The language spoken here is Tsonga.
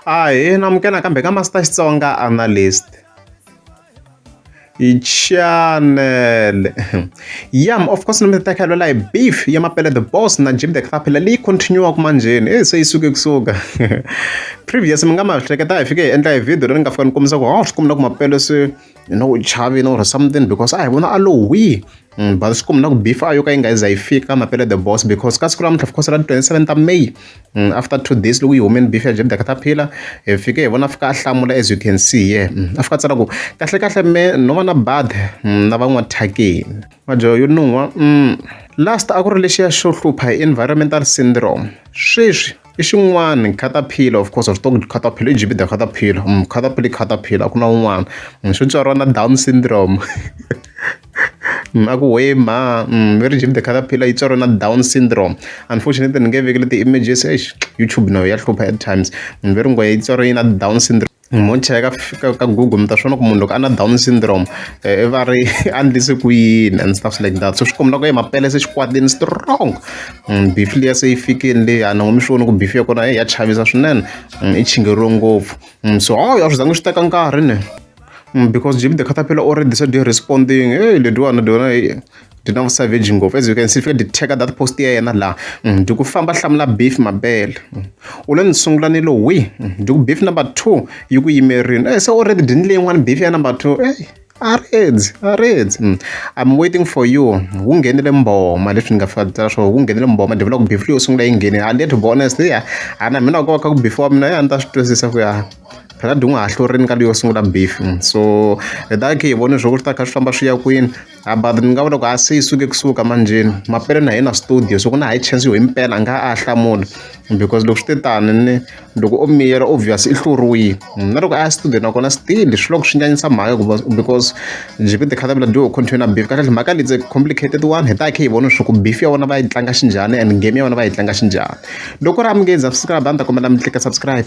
Ahee na amukela nakambe ka Master Xitsonga Analyst. Chanele yam of course mi ta khalelwa hi beef ya mapele the boss na Jim the Caterpillar leyi continue-aka manjheni e se yi suke kusuka previous mi nga ma hleketa hi fike hi endla hi video leri ni nga fika ni kombisa ku ha swi kuma na ku mapele se you know u chavile or something because a hi vona a lowihi Mm, but swi kumna ku beef a yo ka yi nga za yi fika mapele the boss because ka siku lamuntlha of course ra 27 ta may mm, after two days loko yi humeni beef ya jebda kataphila hi eh, fike hi vona fika a hlamula as you can see ye yeah. mm, a fika tsala ku kahle kahle me no va na bad mm, na van'wa thakeni majo yo nuwa mm. last a ku ri lexiya xo hlupha hi environmental syndrome sweswi i xin'wana caterpillar of course switoko caterpillar i jibida caterpillar mm, caterpillar caterpillar a ku na un'wana mm, swi tswariwa na down syndrome a ku huhwe mhani umm very deep the caterpillar yi tswariwe na down syndrome unfortunately ni nge veki leti images eish YouTube na yo ya hlupha at times munhu ve ri ngwehe yi tswariwe na down syndrome mo cheka ka ka google mi ta swona ku munhu loko a na down syndrome i va ri a ndlise ku yini and stuff like that so swi kombela ku ye mapele se xikwatini strong beef liya se yi fikini leyi a ni ngo mi swi voni ku beef ya kona ya chavisa swinene i chingeriwe ngopfu so hawu a swi zangi swi teka nkarhi ne Because Jimmy the Caterpillar already decided to responding. Hey, le dwana dwana hey. Dina mu savage ngopfu. As you can see, if you did check out that post ya yena la. Mm, Duku famba hlamula beef mabele. Mm. Ule ni sungula ni lo wi. Mm, Duku beef number 2 yi ku yimerini. Eh, so already dini leyi n'wana beef ya number 2. Hey. Areds, Areds. Mm. I'm waiting for you. Wu nghenile mboma leswi ni nga fika tsala swo wu nghenile mboma ndzi vula ku beef leyi yo sungula yi nghenile. And to be honest, yeah. Ana mina ko ka ku beef wa mina ya ni ta swi twisisa ku ya. khadi u nga ha hlurini ka leyo sungula mbefu so hi ta khe hi vone swo ku swi ta kha swi famba swi ya kwini a but ni nga vula ku a se yi suke kusuka manjheni mapele na hina studio so ku na high chance yo hi mpela a nga a hlamula because loko swi te tani ni loko o miyela obvious i hluriwile na loko a ya studio nakona still swi loko swi nyanyisa mhaka hikuva because njhe ku tikhata vula do continue na beef kahlekahle mhaka leyi complicated one hi ta khe hi vona swa ku beef ya vona va yi tlanga xinjhani and game ya vona va yi tlanga xinjhani loko ri amukeza subscribe a ni ta kombela mi tlika subscribe